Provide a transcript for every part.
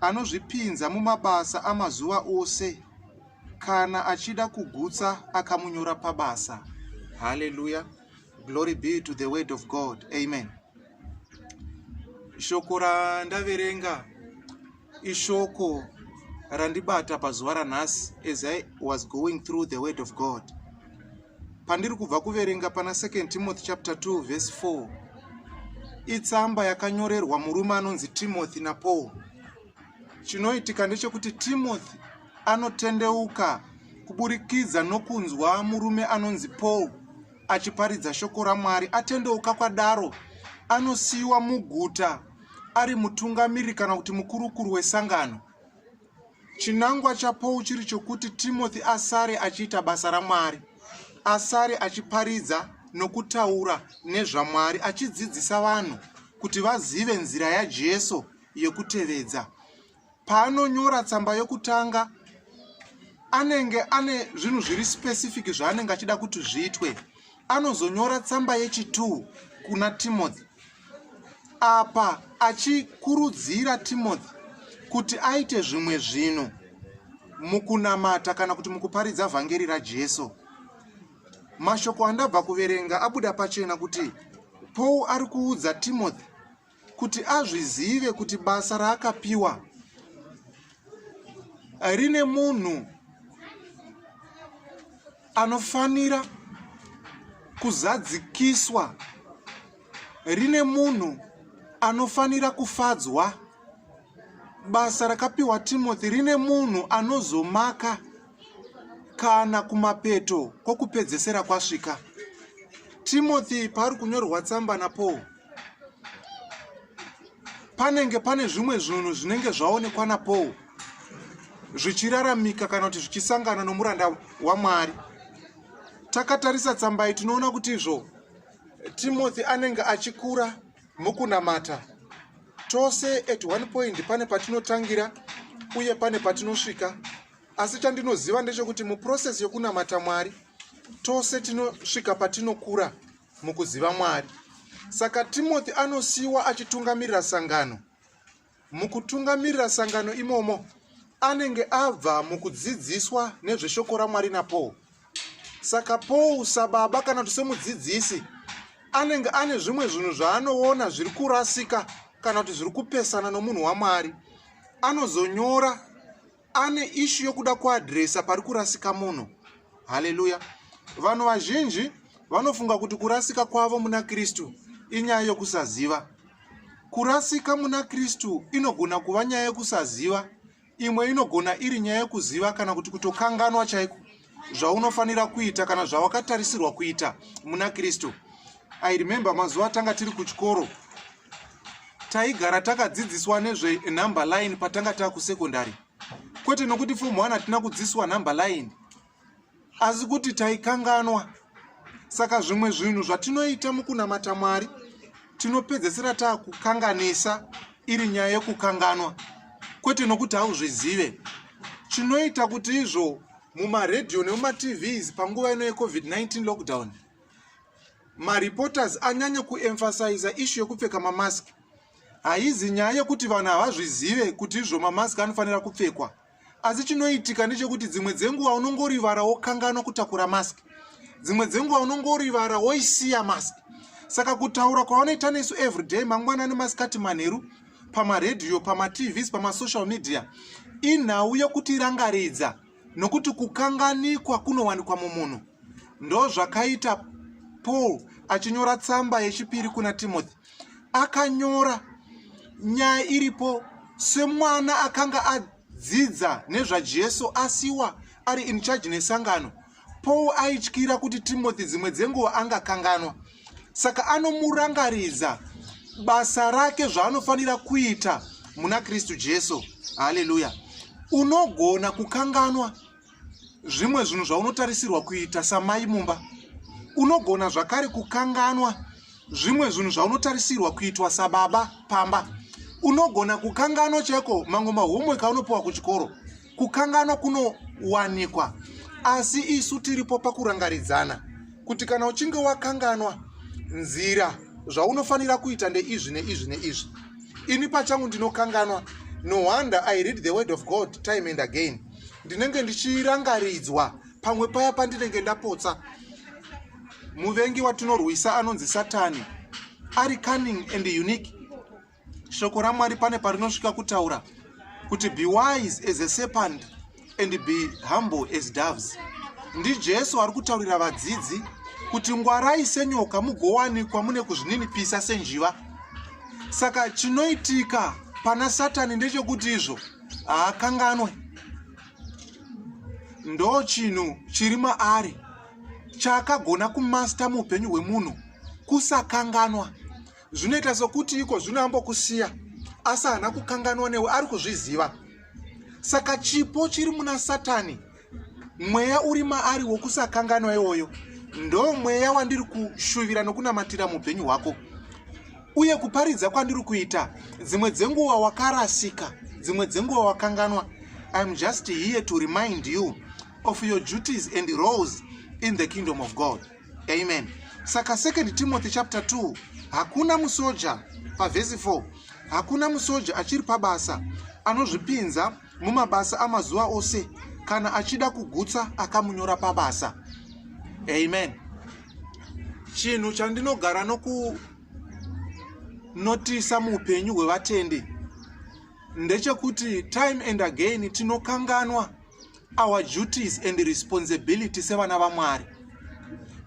anozvipinza mumabasa amazuva ose kana achida kugutsa akamunyora pabasa haleluya glory be to the word of god amen shoko randaverenga ishoko randibata pazuva ranhasi as i was going through the word of god pandiri kubva kuverenga pana 2 timothy chapter 2 verse 4 itsamba yakanyorerwa murume anonzi timothy napaul chinoitika ndechekuti timothy anotendeuka kuburikidza nokunzwa murume anonzi paul achiparidza shoko ramwari atendeuka kwadaro anosiyiwa muguta ari mutungamiriri kana kuti mukurukuru wesangano Chinangwa chaPaul chiri chokuti Timothy asare achiita basa raMwari, asare achiparidza nokutaura nezvaMwari, achidzidzisa vanhu kuti vazive nzira yaJesu yekutevedza. Paanonyora tsamba yokutanga, anenge ane zvinhu zviri specific zvaanenge achida kuti zviitwe. anozonyora tsamba yechi2 kuna timothy apa achikurudzira timothy kuti aite zvimwe zvinhu mukunamata kana kuti mukuparidza vhangeri rajesu mashoko andabva kuverenga abuda pachena kuti paul ari kuudza timothy kuti azvizive kuti basa raakapiwa rine munhu anofanira kuzadzikiswa rine munhu anofanira kufadzwa basa rakapiwa timothy rine munhu anozomaka kana kumapeto kwokupedzesera kwasvika timothy paari kunyorwa tsamba napaul panenge pane zvimwe zvinhu zvinenge zvaonekwa napaul zvichiraramika kana kuti zvichisangana nomuranda wamwari takatarisa tsamba iyi tinoona kuti izvo timothy anenge achikura mukunamata tose at one point pane patinotangira uye pane patinosvika asi chandinoziva ndechekuti muprocess yokunamata mwari tose tinosvika patinokura mukuziva Mwari. Saka Timothy anosiyiwa achitungamirira sangano. Mukutungamirira sangano imomo, anenge abva mukudzidziswa nezveshoko raMwari naPaul. Saka Paul sababa kana kuti semudzidzisi anenge ane zvimwe zvinhu zvaanoona zviri kurasika kana kuti zviri kupesana nomunhu waMwari. Anozonyora ane ishu yokuda kuadresa pari kurasika munhu haleluya vanhu vazhinji vanofunga kuti kurasika kwavo muna kristu inyaya yokusaziva kurasika muna kristu inogona kuva nyaya yokusaziva imwe inogona iri nyaya yokuziva kana kuti kutokanganwa chaiko zvaunofanira kuita kana zvawakatarisirwa kuita muna kristu i remember mazuva tanga tiri kuchikoro taigara takadzidziswa nezvenumber line patanga taa kusekondary kwete nokuti fomu one hatina kudzidziswa number line asi kuti taikanganwa saka zvimwe zvinhu zvatinoita mukunamata mwari tinopedzesera taa kukanganisa iri nyaya yekukanganwa kwete nokuti hauzvizive chinoita kuti izvo mumaredio nemumatvs panguva ino yecovid-19 lockdown mareporters anyanya kuemphasiza ishu yekupfeka mamask haizi nyaya yekuti vanhu havazvizive kuti izvo mamask anofanira kupfekwa asi chinoitika ndechekuti dzimwe dzenguva unongorivara wokanganwa kutakura mask dzimwe dzenguva unongorivara woisiya mask saka kutaura kwavanoita nesu everyday mangwanani masikati manheru pamaredhiyo pamatvs pamasocial media inhau yokutirangaridza nokuti kukanganikwa kunowanikwa mumunhu ndozvakaita paul achinyora tsamba yechipiri kuna timothy akanyora nyaya iripo semwana akanga adzidza nezvajesu asiwa ari in charge nesangano Paul aityira kuti Timothy dzimwe dzenguva angakanganwa, saka anomurangaridza basa rake zvaanofanira kuita muna Kristu Jesu. Haleluya! Unogona kukanganwa zvimwe zvinhu zvaunotarisirwa kuita samai mumba. Unogona zvakare kukanganwa zvimwe zvinhu zvaunotarisirwa kuitwa sababa pamba. Unogona kukanganwa chaiko mamwe mahomework aunopiwa kuchikoro. Kukanganwa kunowanikwa, asi isu tiripo pakurangaridzana kuti kana uchinge wakanganwa nzira zvaunofanira kuita ndeizvi neizvi neizvi. Ini pachangu ndinokanganwa, no wonder I read the word of God time and again. Ndinenge ndichirangaridzwa pamwe paya pandinenge ndapotsa. Muvengi watinorwisa anonzi Satani ari cunning and unique. shoko ramwari pane parinosvika kutaura kuti be wise as a serpent and be humble as doves ndijesu ari kutaurira vadzidzi kuti ngwarai senyoka mugowanikwa mune kuzvininipisa senjiva saka chinoitika pana satani ndechekuti izvo haakanganwe ndo chinhu chiri maari chaakagona kumasta muupenyu hwemunhu kusakanganwa zvinoita sokuti iko zvino ambokusiya asi haana kukanganwa newe ari kuzviziva saka chipo chiri muna satani mweya uri maari wokusakanganwa iwoyo ndo mweya wandiri kushuvira nokunamatira muupenyu hwako uye kuparidza kwandiri kuita dzimwe dzenguva wakarasika dzimwe dzenguva wakanganwa iam just here to remind you of your duties and roles in the kingdom of god amen saka second timothy chapter 2 hakuna musoja pavhesi 4 hakuna musoja achiri pabasa anozvipinza mumabasa amazuva ose kana achida kugutsa akamunyora pabasa amen chinhu chandinogara nokunotisa muupenyu hwevatendi ndechekuti time and again tinokanganwa our duties and responsibility sevana vamwari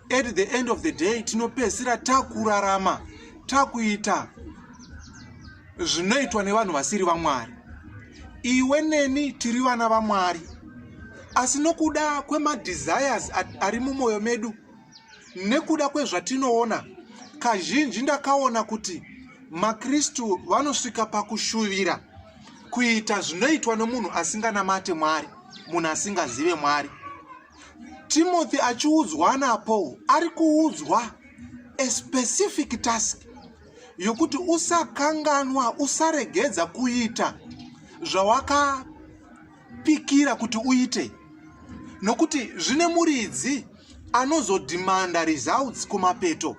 at the end of the day tinopedzisira takurarama takuita zvinoitwa nevanhu vasiri vamwari iwe neni tiri vana vamwari asi nokuda kwemadesires ari mumwoyo medu nekuda kwezvatinoona kazhinji ndakaona kuti makristu vanosvika pakushuvira kuita zvinoitwa nomunhu asinganamate mwari munhu asingazive mwari timothy achiudzwa napaul ari kuudzwa a specific task yokuti usakanganwa usaregedza kuita zvawakapikira kuti uite nokuti zvine muridzi anozodhimanda results kumapeto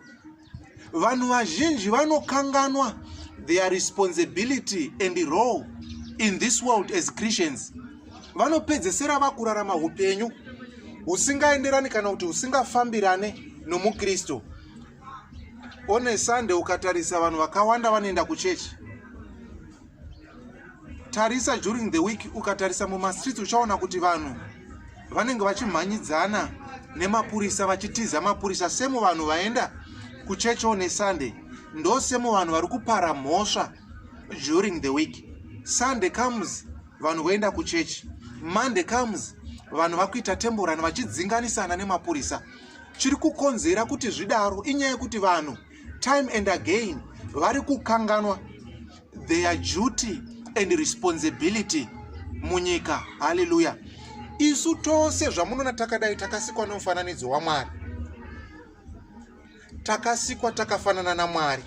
vanhu vazhinji vanokanganwa their responsibility and role in this world as christians vanopedzesera vakurarama upenyu husingaenderani kana kuti husingafambirane nomukristu one sunday ukatarisa vanhu vakawanda vanoenda kuchechi tarisa during the week ukatarisa mumastreets uchaona kuti vanhu vanenge vachimhanyidzana nemapurisa vachitiza mapurisa semu vanhu vaenda kuchechi one sunday ndo semu vanhu vari kupara mhosva during the week sunday comes vanhu voenda kuchechi monday comes vanhu vakuita temborani vachidzinganisana nemapurisa chiri kukonzera kuti zvidaro inyaya yekuti vanhu time and again vari kukanganwa their duty and responsibility munyika haleluya isu tose zvamunoona takadai takasikwa nomufananidzo wamwari takasikwa takafanana namwari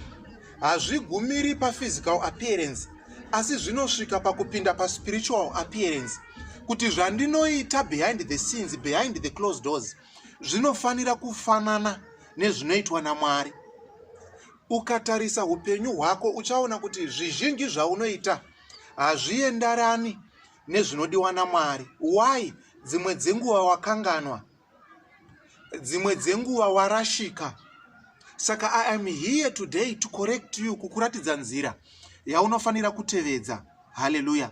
hazvigumiri paphysical appearance asi zvinosvika pakupinda paspiritual appearance kuti zvandinoita behind the scenes behind the close doors zvinofanira kufanana nezvinoitwa namwari Ukatarisa upenyu hwako uchaona kuti zvizhinji zvaunoita hazviendarani nezvinodiwa naMwari. Why? Dzimwe dzenguva wakanganwa, dzimwe dzenguva warashika. Saka I am here today to correct you, kukuratidza nzira yaunofanira kutevedza. Hallelujah.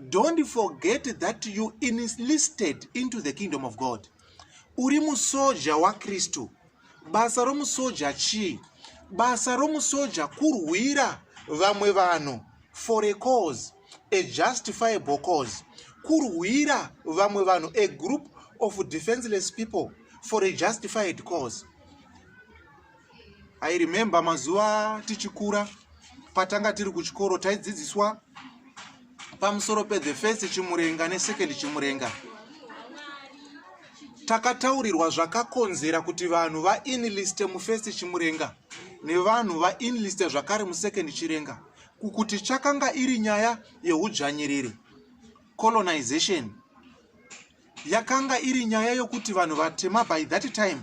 Don't forget that you enlisted into the kingdom of God. Uri musoja waKristu. Basa romusoja chii? Basa romusoja kurwira vamwe vanhu for a cause, a justifiable cause. Kurwira vamwe vanhu, a group of defenseless people for a justified cause. I remember mazuva tichikura patanga tiri kuchikoro taidzidziswa pamusoro pethe first chimurenga nesecond chimurenga takataurirwa zvakakonzera kuti vanhu vainliste mufirst chimurenga nevanhu vainliste zvakare musecond chirenga kukuti chakanga iri nyaya yeudzvanyiriri colonization yakanga iri nyaya yokuti vanhu vatema by that time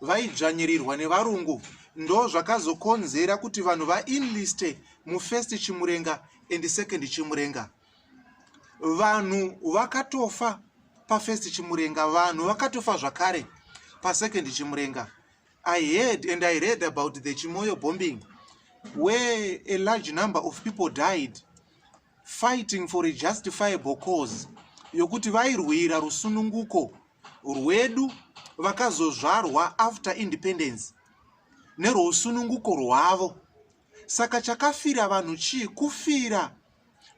vaidzvanyirirwa nevarungu ndo zvakazokonzera kuti vanhu vainliste mufirst chimurenga and second chimurenga vanhu vakatofa pafirst chimurenga vanhu vakatofa zvakare pasecond chimurenga i heard and i read about the chimoyo bombing where a large number of people died fighting for a justifiable cause yokuti vairwira rusununguko rwedu vakazozvarwa after independence nerwousununguko rwavo Saka chakafira vanhu chii? Kufira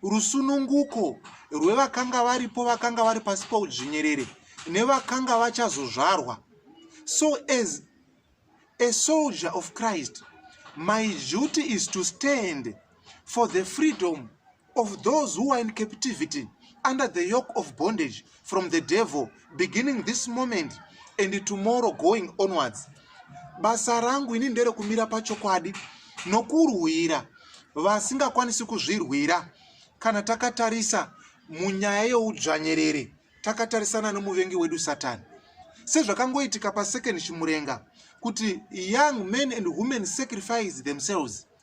rusununguko rwevakanga varipo vakanga vari pasi poudzvinyerere nevakanga vachazozvarwa. So as a soldier of Christ, my duty is to stand for the freedom of those who are in captivity under the yoke of bondage from the devil beginning this moment and tomorrow going onwards basa rangu ini nderekumira pachokwadi nokurwira vasingakwanisi kuzvirwira kana takatarisa munyaya youdzvanyerere takatarisana nomuvengi wedu satani sezvakangoitika pasecond chimurenga kuti young men and women sacrifice themselves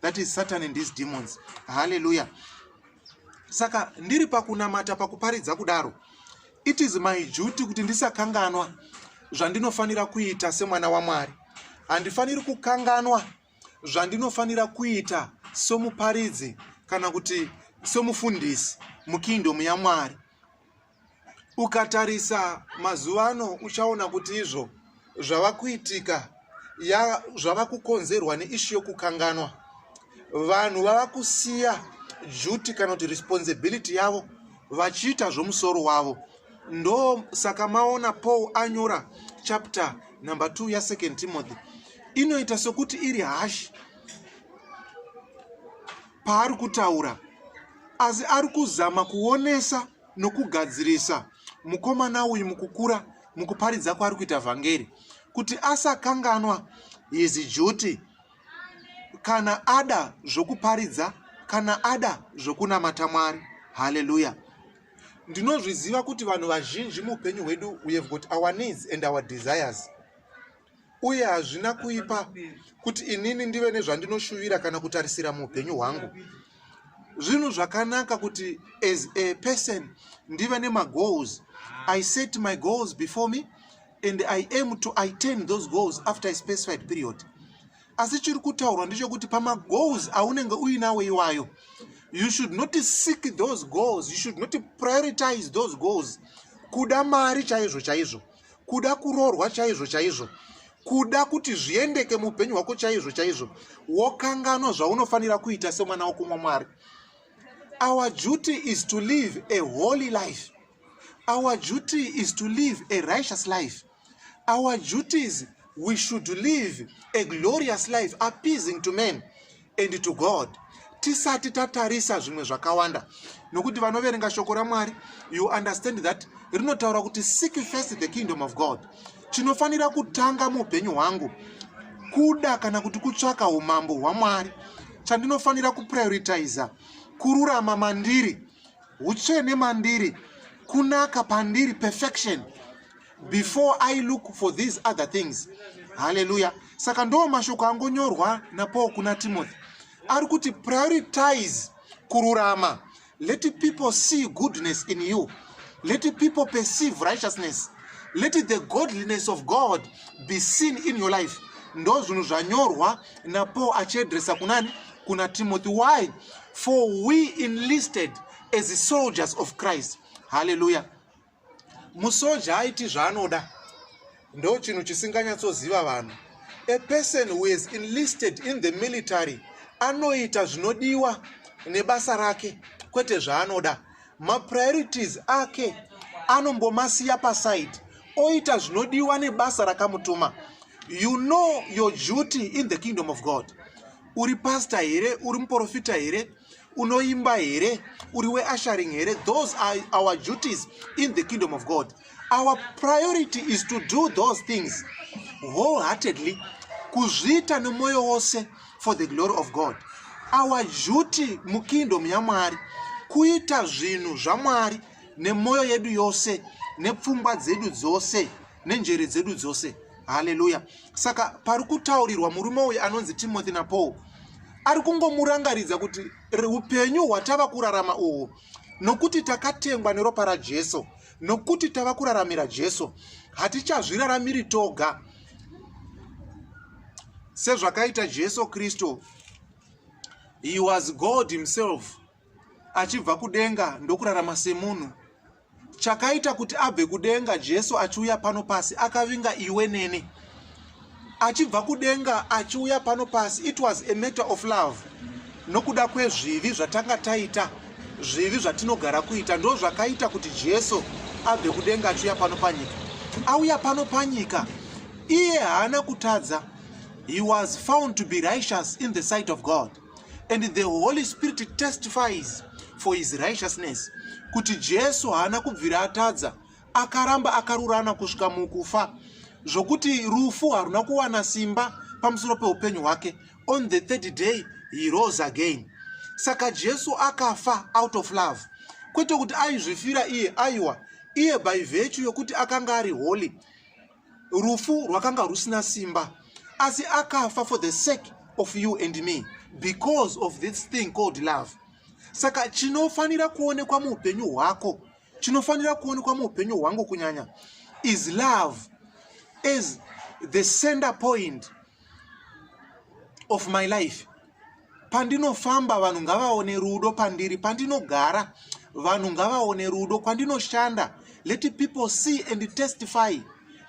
that is satan and his demons haleluya saka ndiri pakunamata pakuparidza kudaro it is my duty kuti ndisakanganwa zvandinofanira kuita semwana wamwari handifaniri kukanganwa zvandinofanira kuita somuparidzi kana kuti somufundisi mukingdom yamwari ukatarisa mazuva ano uchaona kuti izvo zvava kuitika zvava kukonzerwa neishu yokukanganwa vanhu vava kusiya duty kana kuti responsibility yavo vachiita zvomusoro wavo ndo saka maona paul anyora chapter number 2 yasecond timothy inoita sokuti iri hashi paari kutaura asi ari kuzama kuonesa nokugadzirisa mukomana uyu mukukura mukuparidza kwaari kuita vhangeri kuti asakanganwa his duty kana ada zvokuparidza kana ada zvokunamata mwari haleluya ndinozviziva kuti vanhu vazhinji muupenyu hwedu we have got our needs and our desires uye hazvina kuipa kuti inini ndive nezvandinoshuvira kana kutarisira muupenyu hwangu zvinhu zvakanaka kuti as a person ndive nemagoals i set my goals before me and i aim to itain those goals after a specified period asi chiri kutaurwa ndechokuti pamagoals aunenge uinawo iwayo you should not seek those goals you should not prioritize those goals kuda mari chaizvo chaizvo kuda kuroorwa chaizvo chaizvo kuda kuti zviendeke muupenyu hwako chaizvo chaizvo wokanganwa zvaunofanira kuita semwana wokumwa mwari our duty is to live a holy life our duty is to live a righteous life our duties we should live a glorious life appeasing to men and to god tisati tatarisa zvimwe zvakawanda nokuti vanoverenga shoko ramwari you understand that rinotaura kuti seek first the kingdom of god chinofanira kutanga muupenyu hwangu kuda kana kuti kutsvaka umambo hwamwari chandinofanira kuprioritiza kururama mandiri utsvene mandiri kunaka pandiri perfection before i look for these other things haleluya saka ndoo mashoko angonyorwa napaul kuna timothy ari kuti prioritize kururama let people see goodness in you let people perceive righteousness let the godliness of god be seen in your life ndo zvinhu zvanyorwa napaul achiedresa kunani kuna timothy why for we enlisted as soldiers of christ haleluya musoja aiti zvaanoda ndo chinhu chisinganyatsoziva vanhu a person who is enlisted in the military anoita zvinodiwa nebasa rake kwete zvaanoda mapriorities ake anombomasiya paside oita zvinodiwa nebasa rakamutuma you know your duty in the kingdom of god uri pasta here uri muprofita here unoimba here uri weasharing here those are our duties in the kingdom of god our priority is to do those things wholeheartedly kuzviita nemwoyo wose for the glory of god our duty mukingdom yamwari kuita zvinhu zvamwari nemwoyo yedu yose nepfungwa dzedu dzose nenjere dzedu dzose haleluya saka pari kutaurirwa murume uyu anonzi timothy napaul ari kungomurangaridza kuti upenyu hwatava kurarama uhwu nokuti takatengwa neropa rajesu nokuti tava kuraramira jesu hatichazviraramiri toga sezvakaita jesu kristu he was god himself achibva kudenga ndokurarama semunhu chakaita kuti abve kudenga jesu achiuya pano pasi akavinga iwe neni achibva kudenga achiuya pano pasi it was a matter of love nokuda kwezvivi zvatanga taita zvivi zvatinogara kuita ndo zvakaita kuti jesu abve kudenga achiuya pano panyika auya pano panyika iye haana kutadza he was found to be righteous in the sight of god and the holy spirit testifies for his righteousness kuti jesu haana kubvira atadza akaramba akarurana kusvika mukufa zvokuti rufu haruna kuwana simba pamusoro peupenyu hwake on the third day he rose again saka jesu akafa out of love kwete kuti aizvifira iye aiwa iye by virtue yokuti akanga ari holy rufu rwakanga rusina simba asi akafa for the sake of you and me because of this thing called love saka chinofanira kuonekwa muupenyu hwako chinofanira kuonekwa muupenyu hwangu kunyanya is love as the center point of my life pandinofamba vanhu ngavaone rudo pandiri pandinogara vanhu ngavaone rudo kwandinoshanda let people see and testify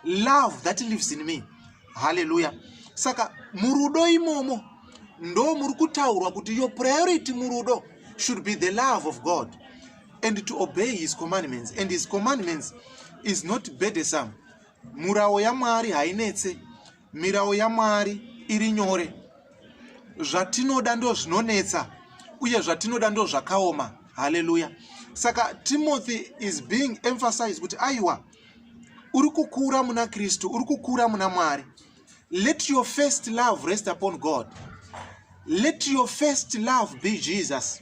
love that lives in me haleluya saka murudo imomo ndo muri kutaurwa kuti your priority murudo should be the love of god and to obey his commandments and his commandments is not bedesome murawo yamwari hainetse Mirawo yaMwari iri nyore. Zvatinoda ndo zvinonetsa uye zvatinoda ndo zvakaoma. Haleluya. Saka Timothy is being emphasized kuti aiwa uri kukura muna Kristu, uri kukura muna Mwari. Let your first love rest upon God. Let your first love be Jesus.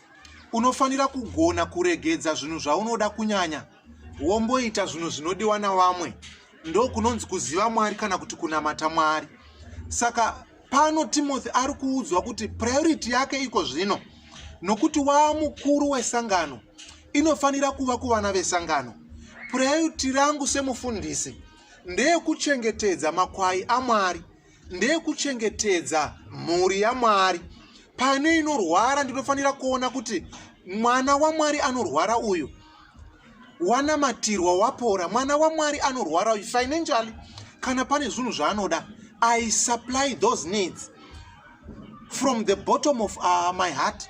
unofanira kugona kuregedza zvinhu zvaunoda kunyanya womboita zvinhu zvinodiwa navamwe ndo kunonzi kuziva mwari kana kuti kunamata mwari saka pano timothy ari kuudzwa kuti priority yake iko zvino nokuti waa mukuru wesangano inofanira kuva kuvana vesangano priority rangu semufundisi ndeyekuchengetedza makwai amwari ndeyekuchengetedza mhuri yamwari pane inorwara ndinofanira kuona kuti mwana wamwari anorwara uyu wanamatirwa wapora mwana wamwari anorwara uyu financially kana pane zvinhu zvaanoda i supply those needs from the bottom of uh, my heart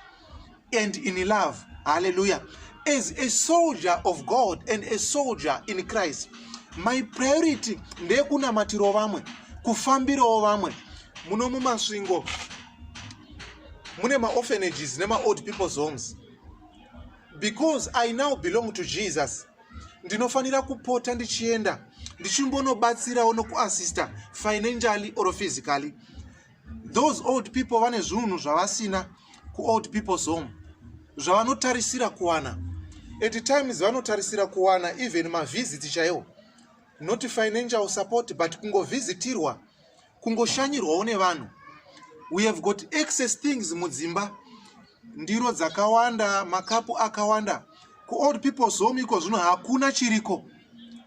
and in love hallelujah as a soldier of god and a soldier in christ my priority ndeyekunamatirawo vamwe kufambirawo vamwe muno mumasvingo mune maorphanages nemaold people's homes because i now belong to jesus ndinofanira kupota ndichienda ndichimbonobatsirawo nokuassista financially or physically those old people vane zviunhu zvavasina kuold people's home zvavanotarisira kuwana at times vanotarisira kuwana even mavhiziti chaiwo not financial support but kungovhizitirwa kungoshanyirwawo nevanhu we have got excess things mudzimba ndiro dzakawanda makapu akawanda kuold people's home iko zvino hakuna chiriko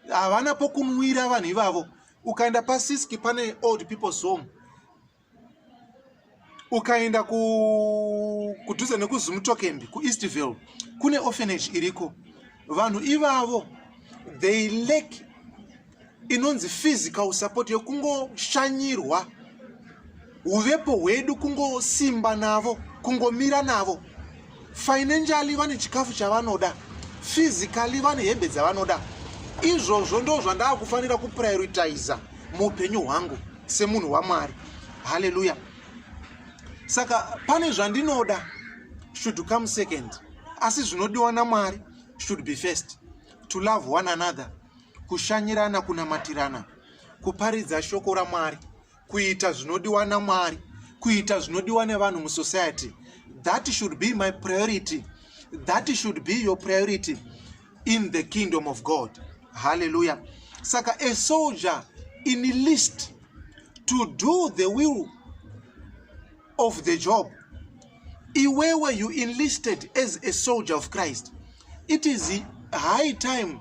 havana pokunwira vanhu ivavo ukaenda pasiski pane old people's home ukaenda kudhuze nekuzumutokembi kueastville kune orphanage iriko vanhu ivavo they lack inonzi physical support yekungoshanyirwa uvepo hwedu kungosimba navo kungomira navo financially vane chikafu chavanoda physically vane hembe dzavanoda izvozvo ndo zvandaa kufanira kuprioritiza muupenyu hwangu semunhu wamwari haleluya saka pane zvandinoda should come second asi zvinodiwa namwari should be first to love one another kushanyirana kunamatirana kuparidza shoko ramwari kuita zvinodiwa namwari kuita zvinodiwa nevanhu musociety that should be my priority that should be your priority in the kingdom of god halleluya saka a soldier in list to do the will of the job iwewe you enlisted as a soldier of christ it is high time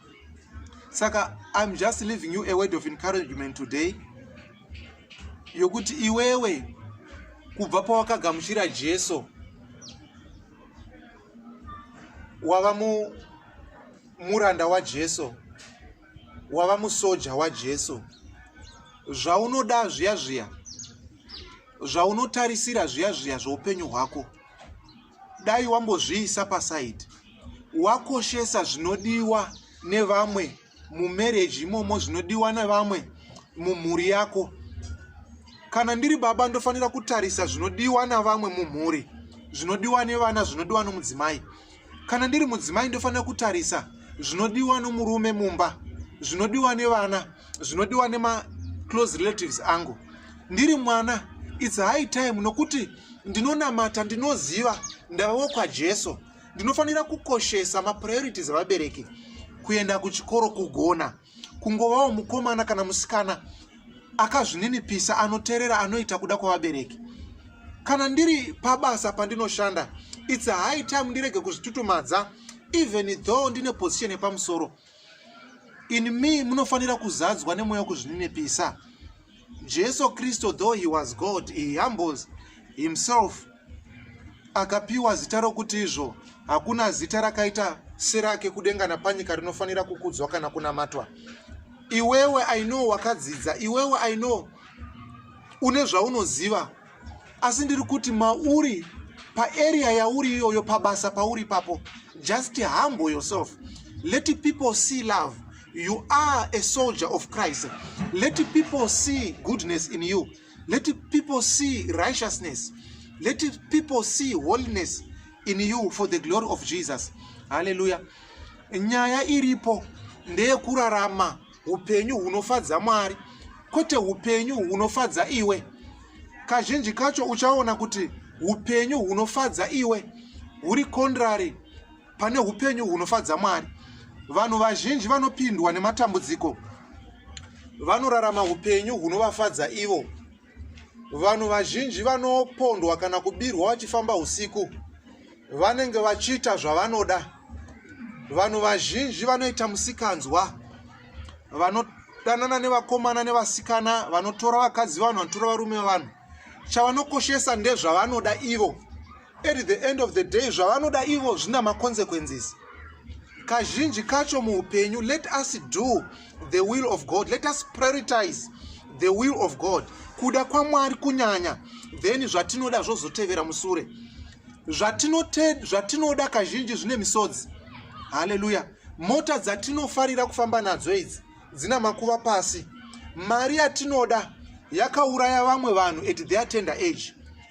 saka im just leaving you a word of encouragement today yokuti iwewe kubva pawakagamuchira jesu wava mu muranda wajesu wava musoja wajesu zvaunoda zviya zviya zvaunotarisira zviya zviya zveupenyu hwako dai wambozviisa pasaidi wakoshesa zvinodiwa nevamwe mumarriage imomo zvinodiwa nevamwe mumhuri yako kana ndiri baba ndofanira kutarisa zvinodiwa navamwe mumhuri zvinodiwa nevana zvinodiwa nomudzimai Kana ndiri mudzimai ndofanira kutarisa zvinodiwa nomurume mumba, zvinodiwa nevana, zvinodiwa nema close relatives angu. Ndiri mwana it's high time nokuti ndinonamata ndinoziva ndavawo kwajesu ndinofanira kukoshesa mapriorities evabereki kuenda kuchikoro kugona kungovawo mukomana kana musikana akazvininipisa anoterera anoita kuda kwavabereki kana ndiri pabasa pandinoshanda its high time ndirege kuzvitutumadza even though ndine position yepamusoro in me munofanira kuzadzwa nemweya wekuzvininipisa Jesu Kristo though he was God, he humbles himself. Akapiwa zita rokuti izvo hakuna zita rakaita serake kudenga napanyika rinofanira kukudzwa kana kunamatwa. Iwewe I know wakadzidza, iwewe I know une zvaunoziva. asi ndiri kuti mauri paarea yauri iyoyo pabasa pauri papo just humble yourself let people see love you are a soldier of christ let people see goodness in you let people see righteousness let people see holiness in you for the glory of jesus haleluya nyaya iripo ndeyekurarama upenyu hunofadza mwari kwete upenyu hunofadza iwe kazhinji kacho uchaona kuti upenyu hunofadza iwe huri kondrary pane upenyu hunofadza mwari vanhu vazhinji vanopindwa nematambudziko vanorarama upenyu hunovafadza ivo vanhu vazhinji vanopondwa kana kubirwa vachifamba usiku vanenge vachiita zvavanoda vanhu vazhinji vanoita musikanzwa vanodanana nevakomana nevasikana vanotora vakadzi vanhu vanotora varume vanhu chavanokoshesa ndezvavanoda ivo at the end of the day zvavanoda ivo zvina maconsequences kazhinji kacho muupenyu let us do the will of god let us prioritize the will of god kuda kwamwari kunyanya then zvatinoda zvozotevera musure zvatinoda kazhinji zvine misodzi haleluya mota dzatinofarira kufamba nadzo idzi dzina makuva pasi mari yatinoda yakauraya vamwe vanhu at their tender age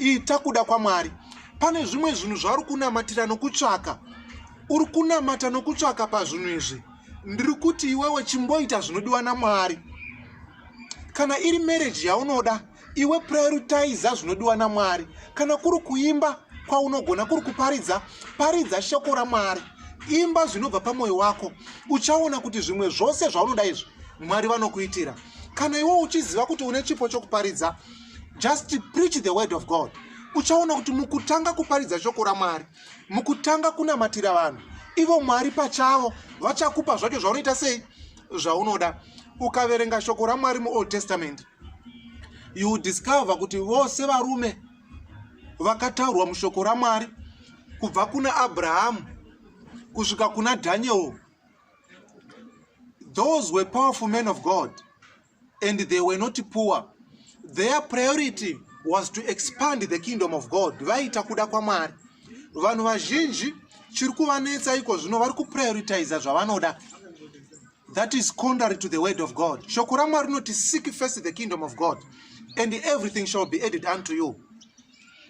ita kuda kwamwari pane zvimwe zvinhu zvauri kunamatira nokutsvaka uri kunamata nokutsvaka pazvinhu izvi ndiri kuti iwewe chimboita zvinodiwa namwari kana iri mereji yaunoda iwe prioritiza zvinodiwa namwari kana kuri kuimba kwaunogona kuri kuparidza paridza shoko ramwari imba zvinobva pamwoyo wako uchaona kuti zvimwe zvose zvaunoda izvi mwari vanokuitira kana iwe uchiziva kuti une chipo chokuparidza just preach the word of god uchaona kuti mukutanga kuparidza shoko ramwari mukutanga kunamatira vanhu ivo mwari pachavo vachakupa zvacho zvaunoita sei zvaunoda ukaverenga shoko ramwari muold testament you discover kuti vose varume vakataurwa mushoko ramwari kubva kuna abrahamu kusvika kuna daniel those were powerful men of god and they were not poor their priority was to expand the kingdom of god vaita kuda kwamwari vanhu vazhinji chiri kuvanetsa iko zvino vari kuprioritiza zvavanoda that is contrary to the word of god shoko ramwari rinoti seek first the kingdom of god and everything shall be added unto you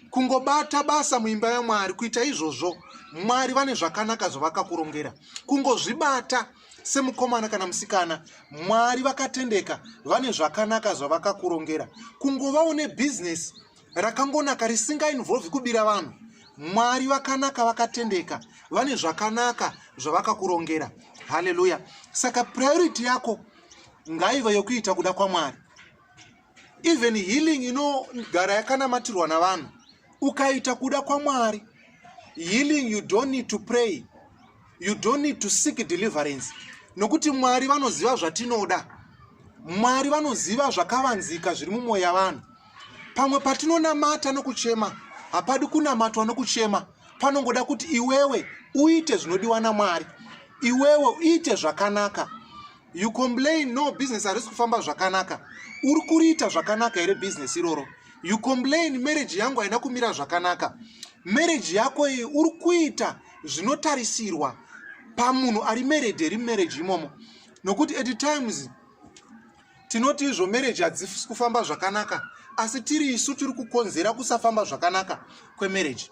kungobata basa muimba yamwari kuita izvozvo mwari vane zvakanaka zvavakakurongera kungozvibata semukomana kana musikana mwari vakatendeka vane zvakanaka zvavakakurongera kungova une bhizinesi rakangonaka risingainvolvi kubira vanhu mwari vakanaka vakatendeka vane zvakanaka zvavakakurongera haleluya saka priority yako ngaive yokuita kuda kwamwari even healing inogara yakanamatirwa navanhu ukaita kuda kwamwari healing you don't need to pray you don't need to seek deliverance nokuti mwari vanoziva zvatinoda mwari vanoziva zvakavanzika zviri mumwoyo yavanhu pamwe patinonamata nokuchema hapadi kunamatwa nokuchema panongoda kuti iwewe uite zvinodiwa namwari iwewe uite zvakanaka you complain no business harisi kufamba zvakanaka uri kuriita zvakanaka here business iroro you complain marriage yangu haina kumira zvakanaka marriage yako iyi uri kuita zvinotarisirwa pamunhu ari married here marriage imomo nokuti at times tinoti izvo marriage hadzisi kufamba zvakanaka asi tiri isu tiri kukonzera kusafamba zvakanaka kwemarriage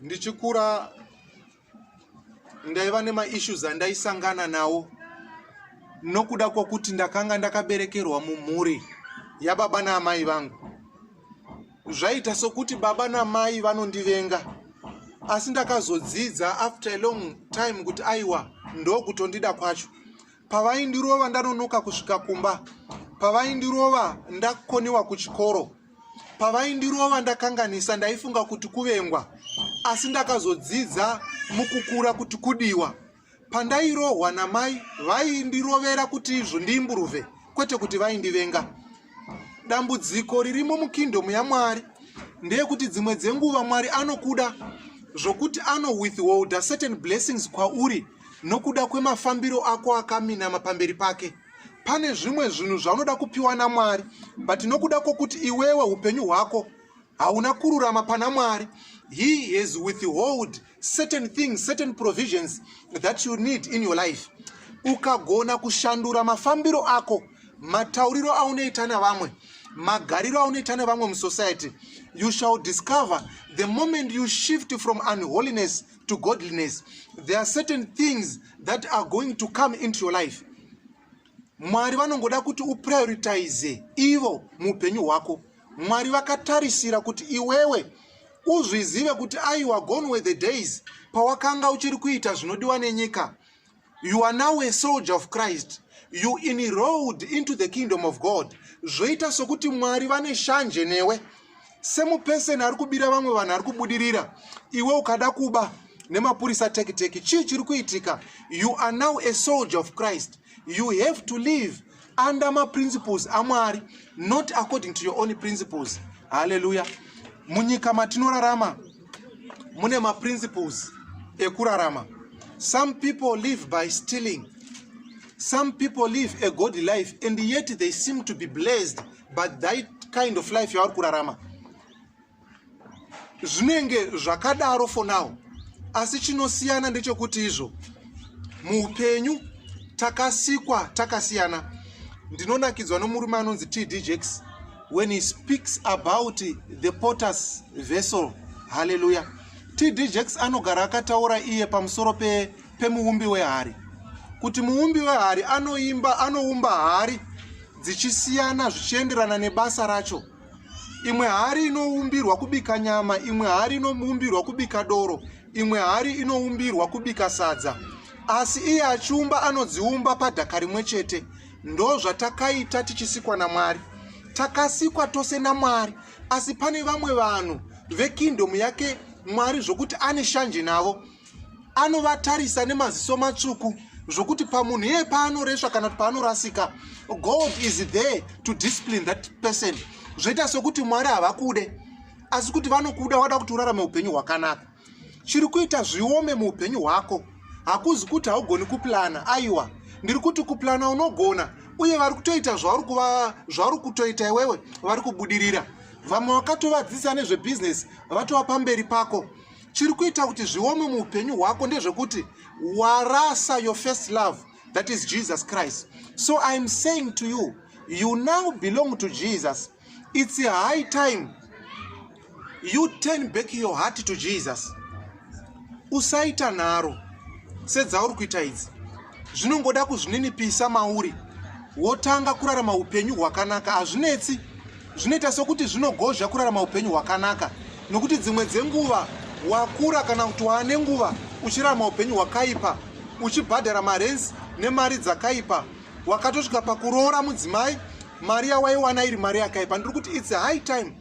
ndichikura ndaiva nemaissues andaisangana nawo nokuda kwokuti ndakanga ndakaberekerwa mumhuri yababa naamai vangu zvaita sokuti baba namai vanondivenga asi ndakazodzidza after a long time kuti aiwa ndokutondida kwacho pavaindirova ndanonoka kusvika kumba pavaindirova ndakoniwa kuchikoro pavaindirova ndakanganisa ndaifunga kuti kuvengwa asi ndakazodzidza mukukura kuti kudiwa pandairohwa namai vaindirovera kuti izvo ndiimburuve kwete kuti vaindivenga dambudziko ririmo mukingdom yamwari ndeyekuti dzimwe dzenguva mwari anokuda zvokuti anowithholda certain blessings kwauri nokuda kwemafambiro ako akaminama pamberi pake pane zvimwe zvinhu zvaunoda kupiwa namwari but nokuda kwokuti iwewe upenyu hwako hauna kururama pana mwari he has withhold certain things certain provisions that you need in your life ukagona kushandura mafambiro ako matauriro aunoita navamwe magariro aunoita nevamwe musociety you shall discover the moment you shift from unholiness to godliness there are certain things that are going to come into your life mwari vanongoda kuti uprioritize ivo muupenyu hwako mwari vakatarisira kuti iwewe uzvizive kuti aiwa gone were the days pawakanga uchiri kuita zvinodiwa nenyika you are now a soldier of christ you enrolled into the kingdom of god zvoita sokuti mwari vane shanje newe semupeseni ari kubira vamwe vanhu ari kubudirira iwe ukada kuba nemapurisa tekiteki chii chiri kuitika you are now a soldier of christ you have to live under maprinciples amwari not according to your own principles haleluya munyika matinorarama mune maprinciples ekurarama some people live by stealing some people live a god life and yet they seem to be blessed but that kind of life yavari kurarama zvinenge zvakadaro for now asi chinosiyana ndechekuti izvo muupenyu takasikwa takasiyana ndinonakidzwa nomurume anonzi td jakes when he speaks about the potters vessel halleluya td jakes anogara akataura iye pamusoro pemuumbi pe wehari kuti muumbi wehari anoimba anoumba hari dzichisiyana zvichienderana nebasa racho imwe hari inoumbirwa kubika nyama imwe hari inoumbirwa kubika doro imwe hari inoumbirwa kubika sadza asi iye achiumba anodziumba padhaka rimwe chete ndo zvatakaita tichisikwa namwari takasikwa tose namwari asi pane vamwe vanhu vekingdom yake mwari zvokuti ane shanje navo anovatarisa nemaziso matsvuku zvokuti pamunhu iye paanoresva kana kuti paanorasika god is there to discipline that person zvoita sokuti mwari havakude asi kuti vanokuda wada kuti urarame upenyu hwakanaka chiri kuita zviome muupenyu hwako hakuzi kuti haugoni kuplana aiwa ndiri kuti kuplana unogona uye vari kutoita zvauri kutoita iwewe vari kubudirira vamwe vakatovadzidzisa nezvebhizinesi vatova pamberi pako chiri kuita kuti zviome muupenyu hwako ndezvekuti warasa your first love that is jesus christ so iam saying to you you now belong to jesus its a high time you turn back your heart to jesus usaita nharo sedzauri kuita idzi zvinongoda kuzvininipisa mauri wotanga kurarama upenyu hwakanaka hazvinetsi zvinoita sokuti zvinogozha kurarama upenyu hwakanaka nokuti dzimwe dzenguva wakura kana kuti waane nguva uchirarama upenyu hwakaipa uchibhadhara marenzi nemari dzakaipa wakatosvika pakuroora mudzimai mari yawaiwana iri mari yakaipa ndiri kuti its high time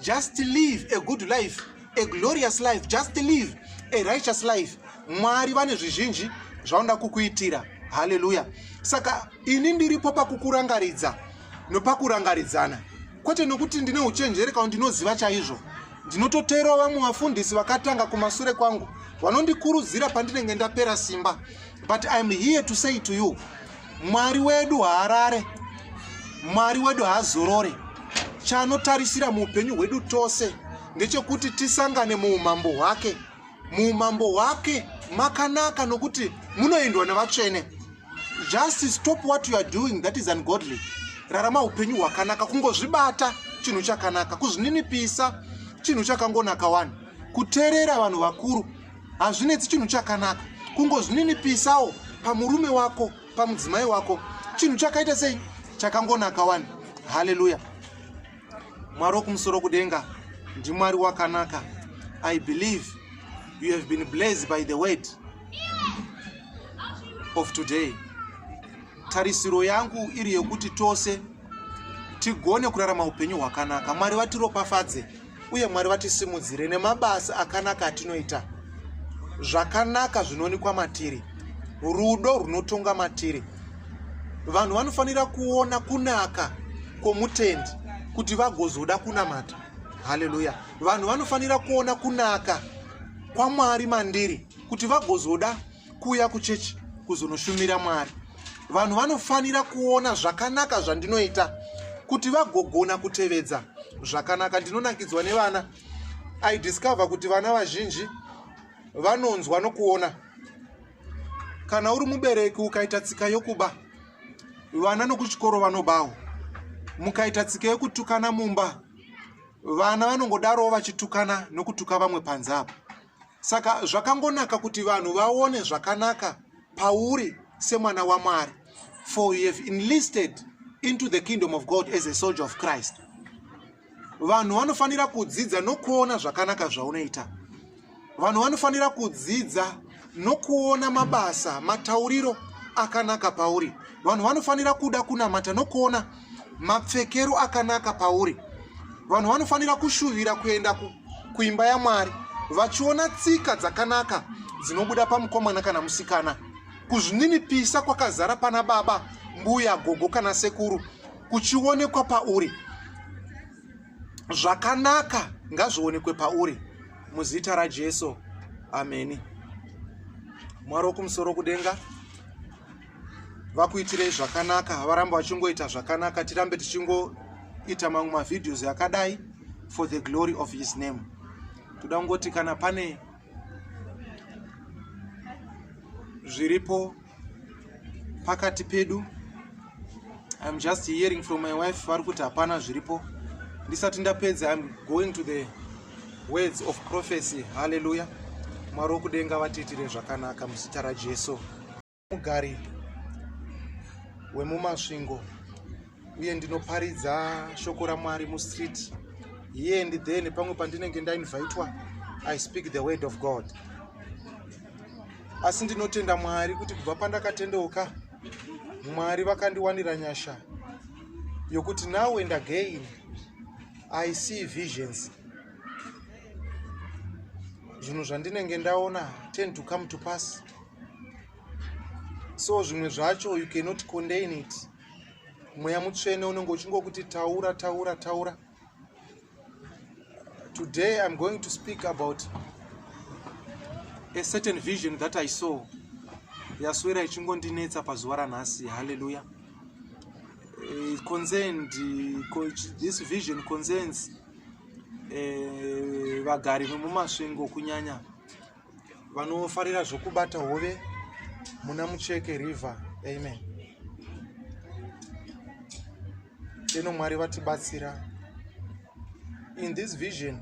just live a good life a glorious life just live a righteous life mwari vane zvizhinji zvaunoda kukuitira haleluya saka ini ndiripo pakukurangaridza nopakurangaridzana kwete nokuti ndine uchenjeri kana ndinoziva chaizvo ndinototeerawo vamwe vafundisi vakatanga kumasure kwangu vanondikurudzira pandinenge ndapera simba but iam here to say to you mwari wedu haarare mwari wedu haazorore chaanotarisira muupenyu hwedu tose ndechekuti tisangane muumambo hwake muumambo hwake makanaka nokuti munoendwa nevatsvene just stop what you are doing that is ungodly rarama upenyu hwakanaka kungozvibata chinhu chakanaka kuzvininipisa chinhu chakangonaka wani kuteerera vanhu vakuru hazvinetsi chinhu chakanaka kungozvininipisawo pamurume wako pamudzimai wako chinhu chakaita sei chakangonaka wani haleluya mwari wokumusoro kudenga ndimwari wakanaka i believe you have been blazed by the word of today Tarisiro yangu iri yokuti tose tigone kurarama upenyu hwakanaka. Mwari vatiropafadze uye Mwari vatisimudzire nemabasa akanaka atinoita. Zvakanaka zvinonikwa matiri. Rudo runotonga matiri. Vanhu vanofanira kuona kunaka kwomutendi kuti vagozoda kunamata. Haleluya. Vanhu vanofanira kuona kunaka kwaMwari mandiri kuti vagozoda kuuya kuchechi kuzonoshumira mwari vanhu vanofanira kuona zvakanaka zvandinoita kuti vagogona kutevedza zvakanaka ndinonakidzwa nevana i discover kuti vana vazhinji vanonzwa nokuona kana uri mubereki ukaita tsika yokuba vana nokuchikoro vanobawo mukaita tsika yokutukana mumba vana vanongodarowo vachitukana nokutuka vamwe panze apo saka zvakangonaka kuti vanhu vaone zvakanaka pauri semwana wamwari for you have enlisted into the kingdom of god as a soldier of christ vanhu vanofanira kudzidza nokuona zvakanaka zvaunoita vanhu vanofanira kudzidza nokuona mabasa matauriro akanaka pauri vanhu vanofanira kuda kunamata nokuona mapfekero akanaka pauri vanhu vanofanira kushuvira kuenda kuimba yamwari vachiona tsika dzakanaka dzinobuda pamukomana kana musikana kuzvininipisa kwakazara pana baba mbuya gogo kana sekuru kuchionekwa pauri zvakanaka ngazvionekwe pauri muzita rajesu ameni mwari wokumusoro kudenga vakuitirei zvakanaka havarambe vachingoita zvakanaka tirambe tichingoita mamwe mavideos akadai for the glory of his name toda kungoti kana pane zviripo pakati pedu iam just hearing from my wife vari kuti hapana zviripo ndisati ndapedza iam going to the words of prophecy halleluya mwari wokudenga vatiitire zvakanaka muzita rajesu mugari wemumasvingo uye ndinoparidza shoko ramwari mustreet here and there nepamwe pandinenge ndainvitwa i speak the word of god asi ndinotenda mwari kuti kubva pandakatendeuka mwari vakandiwanira nyasha yokuti now and again i see visions zvinhu zvandinenge ndaona tend to come to pass so zvimwe zvacho you cannot contain it mweya mutsvene unenge uchingokuti taura taura taura today i'm going to speak about a certain vision that i saw yaswera ichingondinetsa pazuva ranhasi halleluya eh, concerned this vision concerns eh, vagari vemumasvingo kunyanya vanofarira zvokubata hove muna mucheke river amen ino mwari vatibatsira in this vision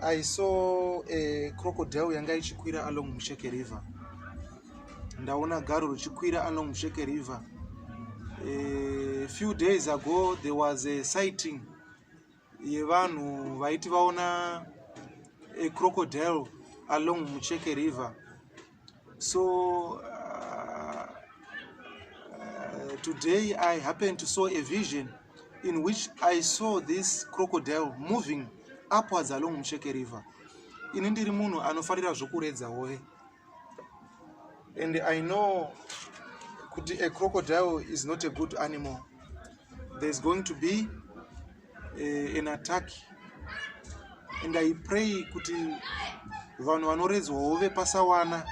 i saw a crocodile yanga ichikwira along mucheke river ndaona garo richikwira along mucheke river a few days ago there was a sighting yevanhu vaiti vaona a crocodile along mucheke river so uh, uh, today i happened to saw a vision in which i saw this crocodile moving upwards along mucheke river ini ndiri munhu anofarira zvokuredza hove and i know kuti a crocodile is not a good animal there's going to be uh, an attack and i pray kuti vanhu vanoredzwa hove pasawana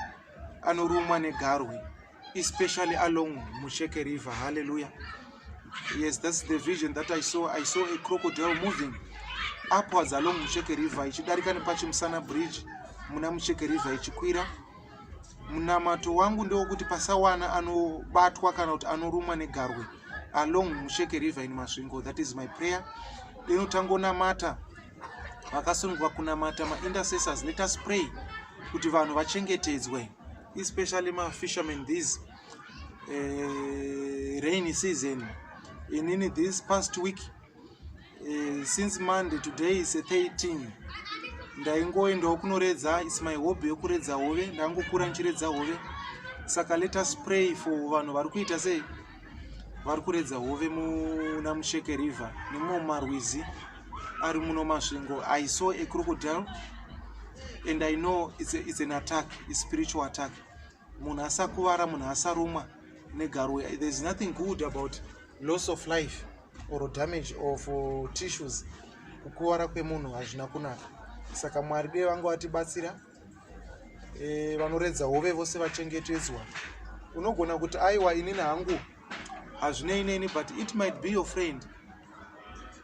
anorumwa negarwe especially along Musheke River. Hallelujah. Yes, that's the vision that I saw. I saw a crocodile moving upwards along Musheke River ichidarika nepachimusana bridge muna Musheke River ichikwira. Munamato wangu ndewokuti pasawana anobatwa kana kuti anorumwa negarwe along Musheke River in Masvingo. That is my prayer. Deno tangonamata vakasunungwa kunamata ma intercessors let us pray kuti vanhu vachengetedzwe. especially ma fishermen these uh, rainy season inini this past week uh, since monday today is 13 ndaingoendawo kunoredza is my hobby yekuredza hove ndangokura ndichiredza hove saka let us pray for vanhu vari kuita sei vari kuredza hove muna musheke river nemumwe mumarwizi ari muno masvingo i saw a crocodile and i know it's, a, it's an attack a spiritual attack munhu asakuvara munhu asarumwa negaro there's nothing good about loss of life or damage of uh, tissues kukuvara kwemunhu hazvina kunaka saka mwari dei vange vatibatsira e, vanoredza hove vose vachengetedzwa unogona kuti aiwa inini hangu hazvinei neni but it might be your friend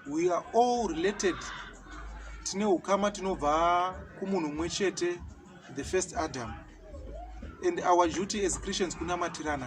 we are all related tine ukama tinobva kumunhu mumwe chete the first adam and our duty as christians kunamatirana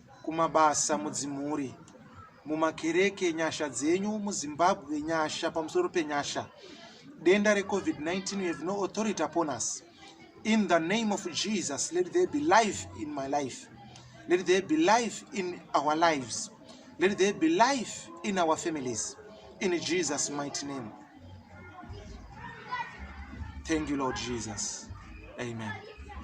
kumabasa mudzimhuri mumakereke nyasha dzenyu muzimbabwe nyasha pamusoro penyasha denda recovid-19 we have no authority upon us in the name of jesus let there be life in my life let there be life in our lives let there be life in our families in jesus mighty name thank you lord jesus amen